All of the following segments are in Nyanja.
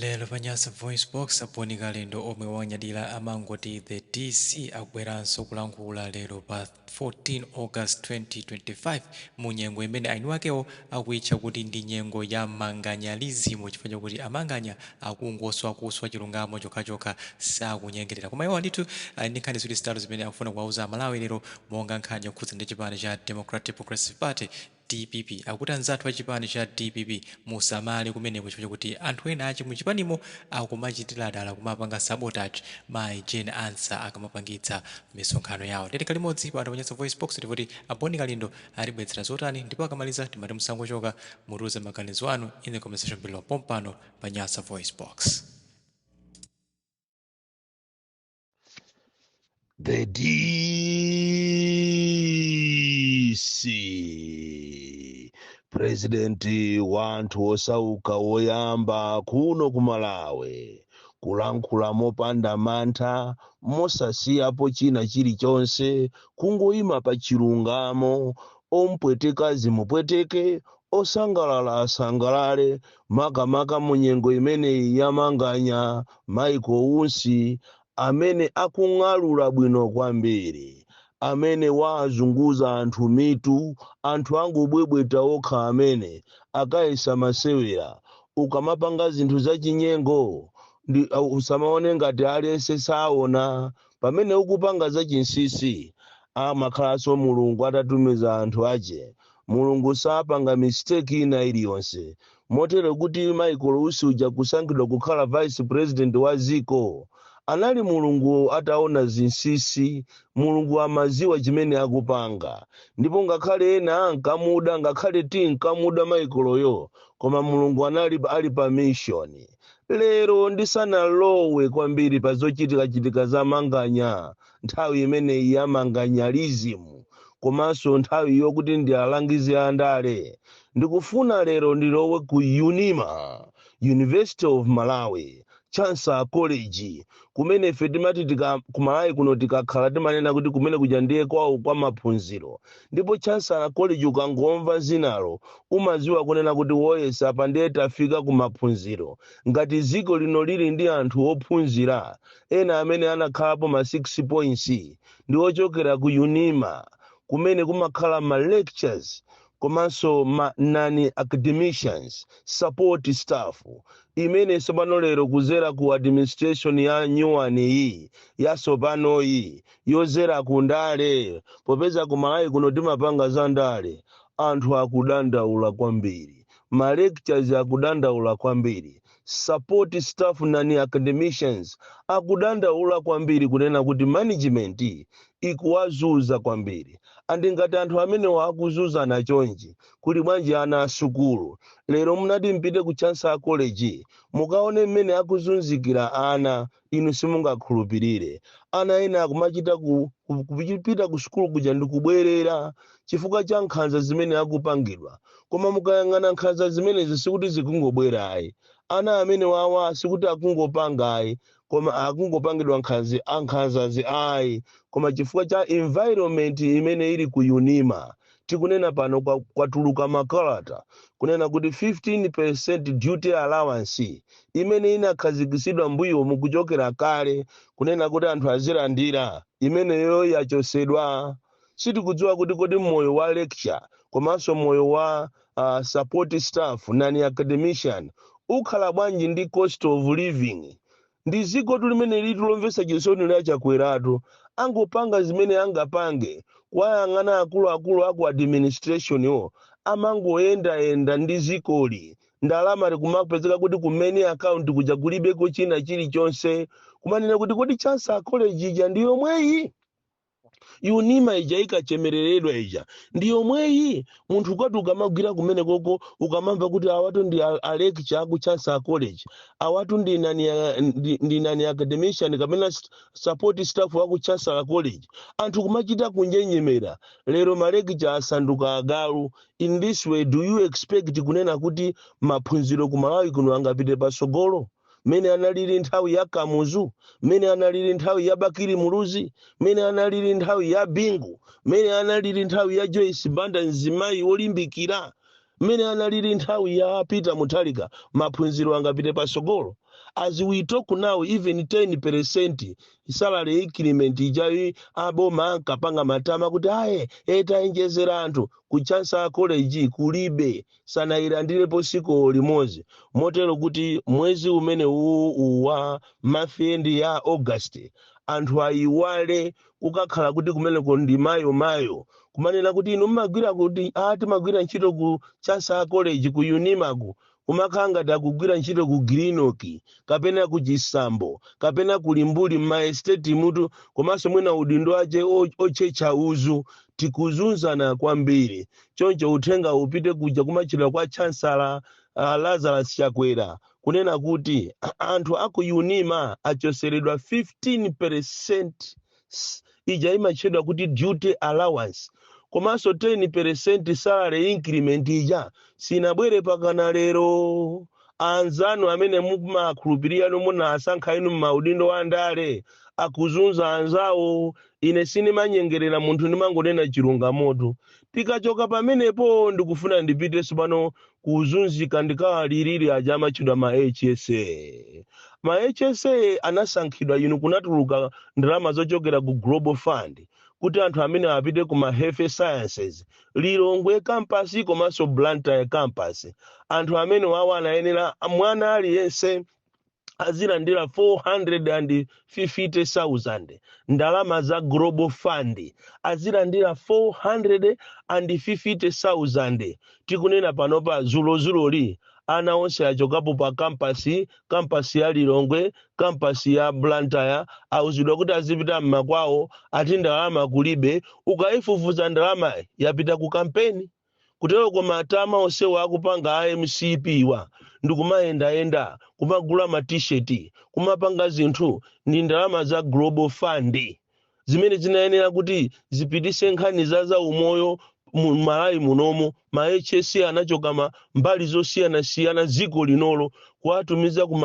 Lero pa Nyasa VoiceBox, a Bon Kalindo omwe wawanyadira amangoti the DC akubweranso kulankhula lero pa 14 August 2025 mu nyengo imene ainiwakewo akuitcha kuti ndi nyengo ya manganyalism chifukwa chakuti amanganya akungoswa kuswa chilungamo chokhachokha sakunyengerera. Koma iwowa ndithu ali ndi nkhani ziwiri zitatu zimene akufuna kuwauza Amalawi lero monga nkhani yokhudza ndi chipani cha Democratic Progressive Party, Dpp akuti anzathu a chipani cha dpp musamale kumeneko chifukwa chakuti anthu ena a mu chipanimo akumachitila dala kumapanga sabotage mai Jane Ansah akamapangitsa misonkhano yao ndiye tikhale limodzi pano pa Nyasa VoiceBox timve kuti a Bon Kalindo atibweletsera zotani ndipo akamaliza timati musangochoka mutiuze maganizo anu in the comment section below pompano pa Nyasa VoiceBox. The DC president wa anthu osauka woyamba kuno ku Malawi kulankhula mopanda mantha mosasiyapo china chilichonse kungoyima pa chilungamo ompweteka zimupweteke osangalala asangalale makamaka mu nyengo imeneyi ya manganya, Michael Usi, amene akung'alula bwino kwambiri, amene waazunguza anthu mitu, anthu akungobwebweta okha amene, akayesa masewera, ukamapanga zinthu zachinyengo, ndi, usamaone ngati aliyense saona, Pamene ukupanga za chinsisi amakhalanso mulungu atatumiza anthu ache mulungu sapanga mistake ina iliyonse motero kuti Michael usi uja kusankhidwa kukhala vice president wa ziko anali mulungu ataona zinsisi mulungu amaziwa chimene akupanga ndipo ngakhale ena ankamuda ngakhale tinkamuda Michael yo koma mulungu anali ali pa mission Lero ndisanalowe kwambiri pa zochitikachitika za manganya, nthawi imeneyi ya manganyalism komanso nthawi yokuti ndiwalangize andale, ndikufuna lero ndilowe ku Unima, University of Malawi, Chancellor College, kumene ife timati tika kumalawi kuno tikakhala timanena kuti kumene kuja ndiye kwawo kwa maphunziro ndipo chancellor college ukangomva zinalo umaziwa kunena kuti oh yes apa ndiye tafika ku maphunziro ngati dziko lino lili ndi anthu ophunzira ena amene anakhalapo ma 6 points ndi ochokera ku unima kumene kumakhala ma lecturers komanso ma non-academicians, support staff, imene tsopano lero kuzera ku administration ya new one yi yasopanoyi yozera ku ndale popeza ku Malawi kuno timapanga za ndale anthu akudandaula kwambiri ma lecturers akudandaula kwambiri Support staff ndi academicians akudandaula kwambiri kunena kuti management ikuwazunza kwambiri and ngati anthu amenewa akuzunzana chonchi kuli bwanji ana asukulu lero munati mpite ku Chancellor College mukaone mmene akuzunzikira ana Inu simungakhulupirire, ana ena akumachita ku, ku, kupita ku sukulu kuja ndi kubwerera, chifukwa cha nkhanza zimene akupangidwa. Koma mukayang'ana nkhanza zimenezi sikuti zikungobwera ayi. Ana amenewawa sikuti akungopanga ayi, koma akungopangidwa nkhanzi, a, nkhanzazi ayi, koma chifukwa cha environment imene ili ku Unima, tikunena pano kwa- kwatuluka makalata kunena kuti 15% duty allowance imene inakhazikitsidwa mbuyomu kuchokera kale kunena kuti anthu azilandira imeneyo yachotsedwa sitikudziwa kuti kodi moyo wa lecturer komanso moyo wa uh, support staff nani academician ukhala bwanji ndi cost of living Ndi dzikotu limenelitu lomvetsa chisoni la Chakwerali. Angopanga zimene angapange. Kuwayang'ana akuluakulu aku administration-wo amangoyendayenda ndi zikoli. Ndalama zikumapezeka kuti ku main account kuja kulibeko china chilichonse. Kumanena kuti kodi Chancellor College ija ndi yomweyi? unima ija inkachemereredwa ija ndi yomweyi munthu ukati ukamagwira kumenekoko ukamamva kuti awatu ndi a- a lecturer aku chancellor college awatu ndi nani ya- ndi ndi nani academician kapena s- support staff aku chancellor college anthu kumachita kunjenjemera lero malecturer asanduka agalu in this way do you expect kunena kuti maphunziro ku malawi kuno angapite patsogolo mmene analili nthawi ya Kamuzu, mmene analili nthawi ya Bakili Muluzi, mmene analili nthawi ya Bingu, mmene analili nthawi ya Joyce Banda mzimayi wolimbikira, mmene analili nthawi ya Peter Mutharika, maphunziro angapite patsogolo. As we talk now even 10% salary increment ija aboma ankapanga matama kuti ayi tawonjezera anthu ku Chancellor College kulibe sanayilandirepo tsiku limodzi motero kuti mwezi umene uwu uwu wa month end ya august anthu ayiwale kukakhala kuti kumeneko ndi mayo mayo kumanena kuti inu mmagwira kuti a timagwira ntchito ku chancellor college ku unimaku kumakhala ngati akugwira ntchito ku grinoki kapena ku chisambo kapena ku limbuli mmaestetimutu komanso mwina udindo wake o- otchetcha uzu tikuzunzana kwambiri choncho uthengawu upite kuja kumatchedwa kwa chancellor uh, lazarus chakwera kunena kuti anthu aku unima achotseredwa 15 percent ija imatchedwa kuti duty allowance komanso 10 percent salary increment ija sinabwere mpakana lero anzanu amene mumakhulupirira inu munasankha inu m'maudindo a ndale akuzunza anzawo ine sindimanyengerera munthu ndimangonena chilungamotu tikachoka pamenepo ndikufuna ndipite tsopano kuzunzika ndikawalilire aja amatchedwa ma hsa ma hsa anasankhidwa inu kunatuluka ndalama zochokela ku global fund kuti anthu amene apite ku ma health sciences lilongwe kampasi komanso blantyre kampasi anthu amenewawa anayenera mwana aliyense azilandira 450,000 ndalama za global fund azilandira 450,000 tikunena panopa dzulodzuloli ana onse achokapo pa kampasi kampasi ya lilongwe kampasi ya blantyre auzidwa kuti azipita mmakwawo ati ndalama kulibe ukaifufuza ndalama yapita ku kampeni kutero koma matama onsewa akupanga a mcpwa ndikumayendayenda kumagula matisheti kumapanga zinthu ndi ndalama za global fund zimene zinayenera kuti zipititse nkhani za zaumoyo mu malawi munomo ma hsa anachoka m'mbali zosiyanasiyana dziko linolo kuwatumiza ku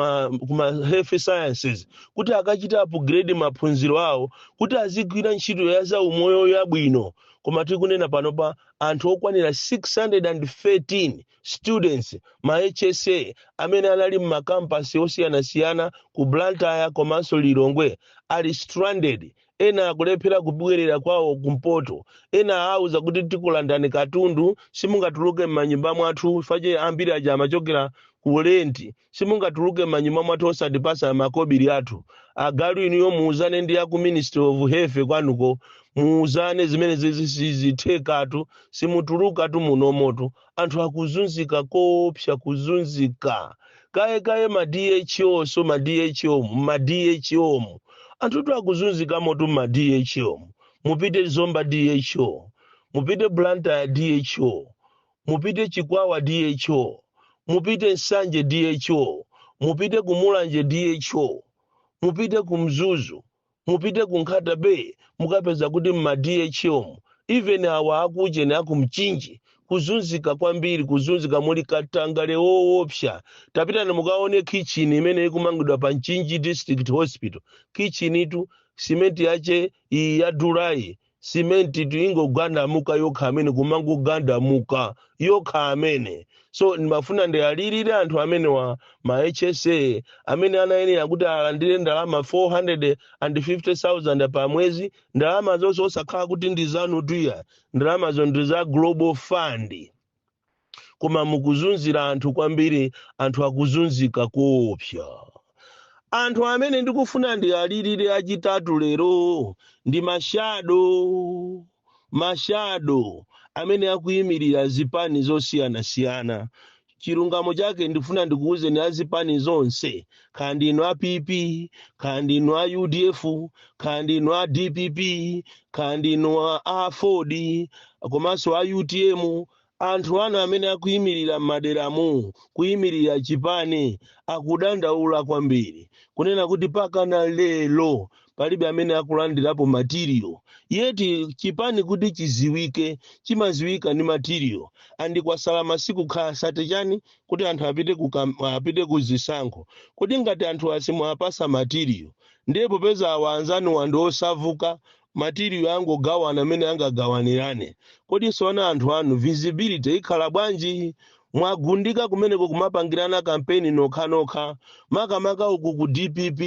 ma health sciences kuti akachite upgrade maphunziro awo kuti azigwira ntchito ya zaumoyo yabwino koma tikunena panopa anthu okwanira 613 students ma hsa amene anali m'makampasi osiyanasiyana ku blantyre komanso lilongwe ali stranded ena akulephera kubwerera kwawo kumpoto ena auza kuti tikulandani katundu simungatuluke m'manyumba mwathu paja ambiri aja amachokera ku renti Simungatuluke m'manyumba mwathu osatipatsa makobiri athu. Agalu inuyo muuzane ndi aku ministry of health kwanuko muuzane zimenezi sizithekatu simutulukatu munomotu anthu akuzunzika koopsa kudzudzula kaye kaye ma DHO nso m'ma DHO mu m'ma DHO mu anthutu akuzunzikamotu m'ma DHO mu mupite Zomba DHO mupite Blantyre DHO mupite Chikwawa DHO, mupite Nsanje DHO, mupite ku Mulanje DHO, mupite ku Mzuzu, mupite ku Nkhata Bay mukapeza kuti mma DHOmu even awa akuujeni aku Mchinji kuzunzika kwambiri, kuzunzika muli katangale woopsa. Tapitani mukaone kitchen imene ikumangidwa pa Mchinji District Hospital. Kitchen tu simenti yache iyi yadulayi simentitu ikungogandamuka yokha amene kumangogandamuka yokha amene so ndimafuna ndiwalirire anthu amenewa ma hsa amene anayenera kuti alandire ndalama 450000 pa mwezi ndalama zonse osakhala kuti ndi zanutu ayi ndalamazo ndi za global fund koma mukuzunzira anthu kwambiri anthu akuzunzika koopsa anthu amene ndikufuna ndialirire achitatu lero ndi mashado mashado amene akuyimirira zipani zosiyanasiyana chilungamo chake ndifuna ndikuwuzeni azipani zonse kaya ndinu a pp kaya ndinu a udf kaya ndinu a dpp kaya ndinu a aford komanso a utm anthu anu amene akuyimirira m'maderamu kuyimirira chipani akudandaula kwambiri kunena kuti pakana lero palibe amene akulandirapo matiriyo yeti chipani kuti chiziwike chimaziwika ndi matiriyo andi kwasala masiku kaya sate chani kuti anthu apite ku kam- apite ku zisankho kodi ngati anthuwa simwapasa matiriyo ndiye popeza awa anzanuwa ndi osawuka matiriyo angogawana amene angagawanirane kodi tsono anthu anu visibility ikhala bwanji mwagundika kumeneko kumapangirana kampeni nokhanokha makamaka uku ku dpp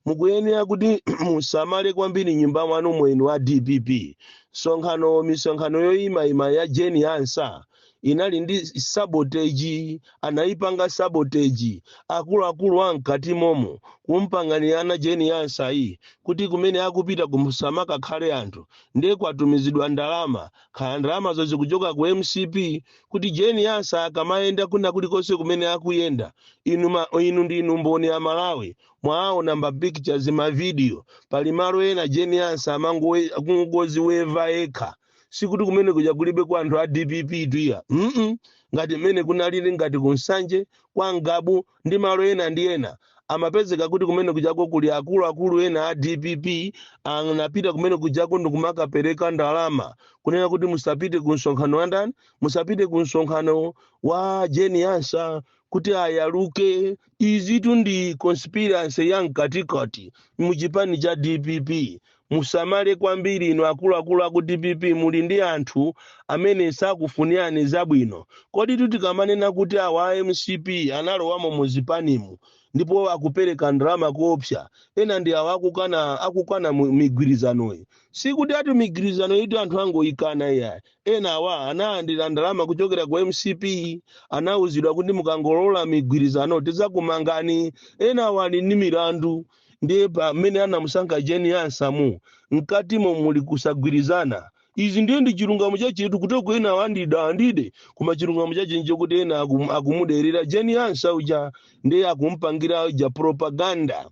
mukuyenera kuti musamale kwambiri m'nyumba mwanumo inu a dpp msonkhano misonkhano yoyimayima ya Jane Ansah inali ndi saboteji anayipanga saboteji akuluakulu a mkati momo kumpanganirana Jane Ansah yi kuti kumene akupita kusamakakhale anthu ndiye kwatumizidwa ndalama kaya ndalamazo zikuchoka ku mcp kuti Jane Ansah akamayenda kuna kulikonse kumene akuyenda inu, ma, inu ndi inu mboni amalawi mwaona ma pictures ma video pali malo ena Jane Ansah amangoziweva yekha sikuti kumene kuja kulibeko anthu a dpp tu iyayi mm ngati mmene kunalili ngati ku nsanje kwa ngabu ndi malo ena ndi ena amapezeka kuti kumene kujako kuli akuluakulu ena a dpp anapita kumene kujako ndikumakapereka ndalama kunena kuti musapite ku msonkhano wa ndani musapite ku msonkhano wa Jane Ansah kuti ayaluke Izitu ndi conspiracy ya mkatikati mu chipani cha dpp. Musamale kwambiri inu akuluakulu aku dpp muli ndi anthu amene sakufunirani zabwino. Koditu tikamanena kuti awa a mcp analowamo mu zipanimu ndipo akupereka ndalama koopsa, ena ndi awa akukana akukana mu migwirizanoyi. Sikuti ati migwirizanoyitu anthu angoyikana iyayi. Enawa analandira ndalama kuchokera ku mcp, anauzidwa kuti mukangolola migwirizano tidzakumangani. Enawa ali ndi milandu ndiye pamene anamusankha Jane Ansah mu mkatimo muli kusagwirizana. Izi ndiye ndi chilungamo chachetu kutoko enawa ndi dandide koma chilungamo chache nchokuti ena akum, akumuderera Jane Ansah uja ndiye akumpangira uja propaganda.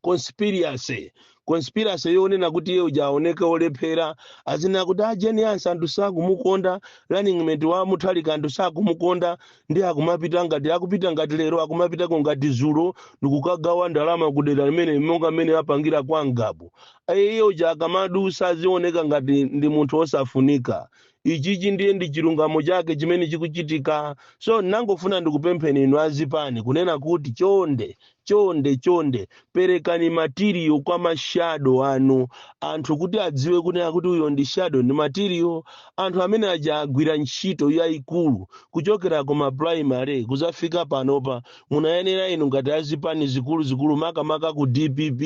conspiracy conspiracy yonena kuti iye uja aoneke olephera azina kuti a jeni ansa anthu sakumukonda running mate wa muthalika anthu sakumukonda ndi akumapita ngati akupita ngati lero akumapitako ngati zulo ndikukagawa ndalama kudera limene monga mmene apangira kwa ngabu iye uja akamadusa azioneka ngati ndi munthu osafunika ichichi ndiye ndi chilungamo chake chimene chikuchitika so nangofuna ndikupempheni inu azipani kunena kuti chonde chonde chonde perekani matiriyo kwa mashado anu anthu kuti adziwe kunena kuti uyo ndi shado ndi matiriyo anthu amene aja agwira ntchito yayikulu kuchokera kuma primary kuzafika panopa munayenera inu ngati azipani zikuluzikulu makamaka ku dpp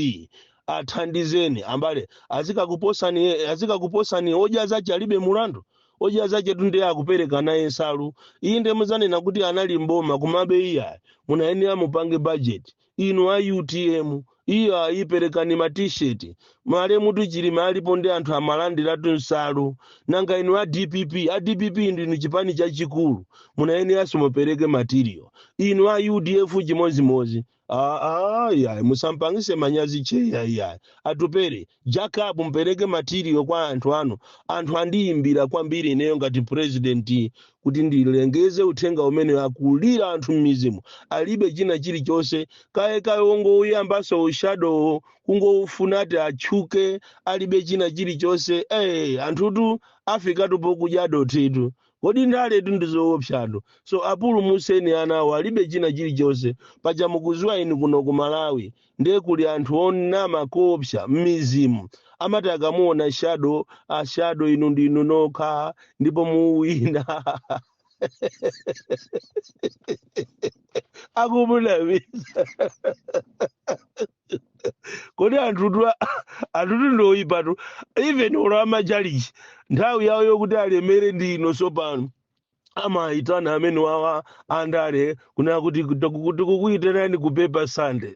athandizeni ambale azikakuposani azikakuposani odya zace alibe mulandu odya zace tu nde akupereka naye nsalu iyi nde muzanena kuti anali mboma kumabe iya munayenera mupange budget inu a utm iyo ayiperekani ma t-shirt malemutu chilima alipo ndi anthu amalandiratu nsalu nanga inu a dpp a dpp ndi inu chipani chachikulu munayeneranso mupereke material inu a udf chimodzimodzi Ah, ah, iya musampangise manyazi cheya iya atupele jacob mpereke matiriyo kwa anthu anu anthu andiyimbira kwambiri ineyo ngati purezidenti kuti ndilengeze uthenga umene akulira anthu m'mizimu alibe china chilichonse kaya kaya wongouyambaso ushadowo kungowufuna ati atchuke alibe china chilichonse eh anthutu afikatu pokudya dothitu Kodi ndaletu ndi zoopsatu. So apulumutseni anawo alibe china chilichonse. Paja mukuziwa inu kuno ku Malawi nde kuli anthu onama koopsa mmizimu. Amati akamuona shadow, a shadow inu ndi inu nokha ndipo muwina. Akumunamiza. kodi anthutu anthutu ndoyipatu even olo amachalichi nthawi yawo yokuti alemere ndi ino sopano amayitana amene wawa andale kunena kuti tiku- tikukuyitanani ku paper sunday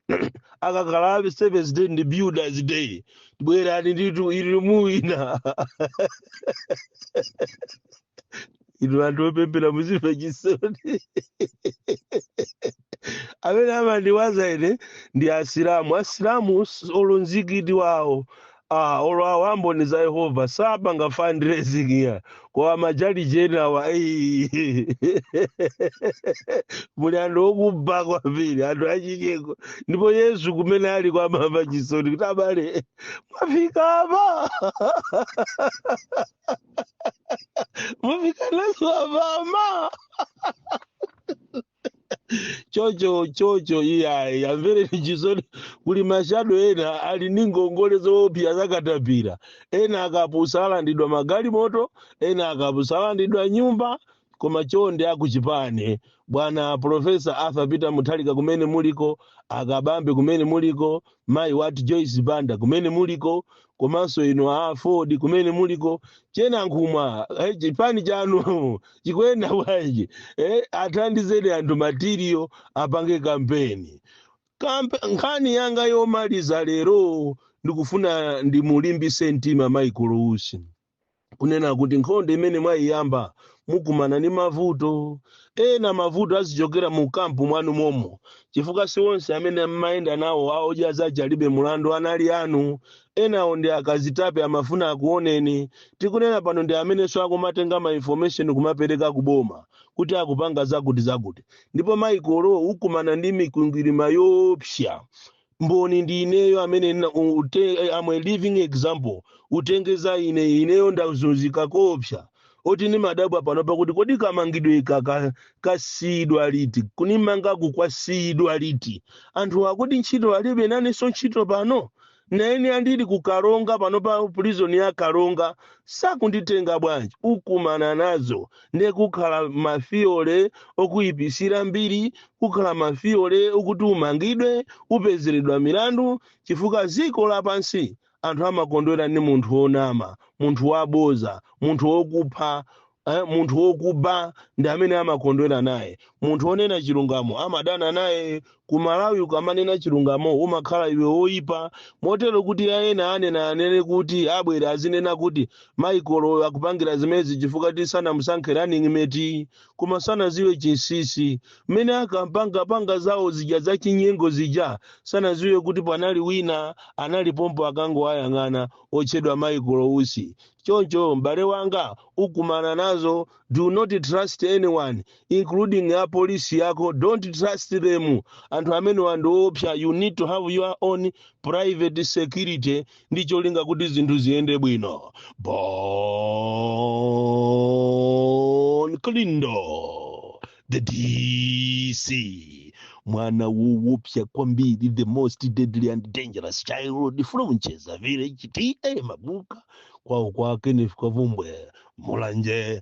akakhala seventh day ndi builders day bwerani nditu iri muwina inu anthu opemphera muzimva chisoni amene amandiwaza ine ndi asilamu asilamu s- olo mzikiti wawo ah, olo awo amboni za yehova sapanga fundraising ya koma machalichi enawa ei. muli anthu okuba kwambiri anthu achicheko ndipo yesu kumene aliko amamva chisoni kuti abale mwafika apa mufikanso apa mama chocho chocho iyayi amvereni chisoni kuli ma shadow ena ali ndi ngongole zoopsa zakatapira ena akapusa alandidwa magalimoto ena akapusa alandidwa nyumba koma chonde akuchipani bwana Professor arthur peter Mutharika kumene muliko akabambe kumene muliko mayi wati joyce banda kumene muliko komanso inu a aford kumene muliko che Nankhumwa eh, chipani chanu chikuyenda bwanji eh, athandizeni anthu material apange kampeni nkhani yanga yomaliza lero ndikufuna ndimulimbise mtima Michael Usi kunena kuti nkhondo imene mwayiyamba mukumana ndi mavuto ena mavuto azichokera mu kampu mwanu momo chifukwa si onse amene mmayenda nawo a odya zake alibe mulandu anali anu enawo ndi akazitape amafuna akuoneni tikunena pano ndi amenenso akumatenga ma information kumapereka ku boma kuti akupanga zakuti zakuti ndipo Michael ukumana ndi mikwingwirima yoopsa mboni ndi ineyo amene nna- u- ute- eh, am a living example utenge za ine ineyo ndazunzika koopsa moti ndimadabwa pano pakuti kodi kamangidwe kaka kasiyidwa liti kunimangaku kwasiyidwa liti anthu akuti ntchito alibe nanenso ntchito pano naine ndili ku karonga pano pa prison ya karonga sakunditenga bwanji ukumana nazo ndiye kukhala ma fewer okuyipisira mbiri kukhala ma fewer okuti umangidwe upezeredwa milandu chifukwa ziko lapansi anthu amakondwera ndi munthu wonama munthu waboza munthu wokupha eh, munthu wokuba ndi amene amakondwera naye munthu wonena chilungamo amadana naye Ku Malawi ukamanena chilungamo umakhala iwe woipa motero kuti a ena anena anene kuti abwera azinena kuti Michael akupangira zimenezi chifukwa ti sanamusankhe running mate koma sanaziwe chinsisi mmene akapanga panga zawo zija za chinyengo zija sanaziwe kuti panali wina anali pompo akangowayang'ana otchedwa Michael Usi choncho m'bale wanga ukumana nazo do not trust anyone including a police yako don't trust them anthu amenewa ndi oopsa you need to have your own private security ndi cholinga kuti zinthu ziyende bwino Bon Kalindo the dc mwana woopsa kwambiri the most deadly and dangerous child from Chedza village ta mabuka kwawo kwa kenneth kavumbwe mulanje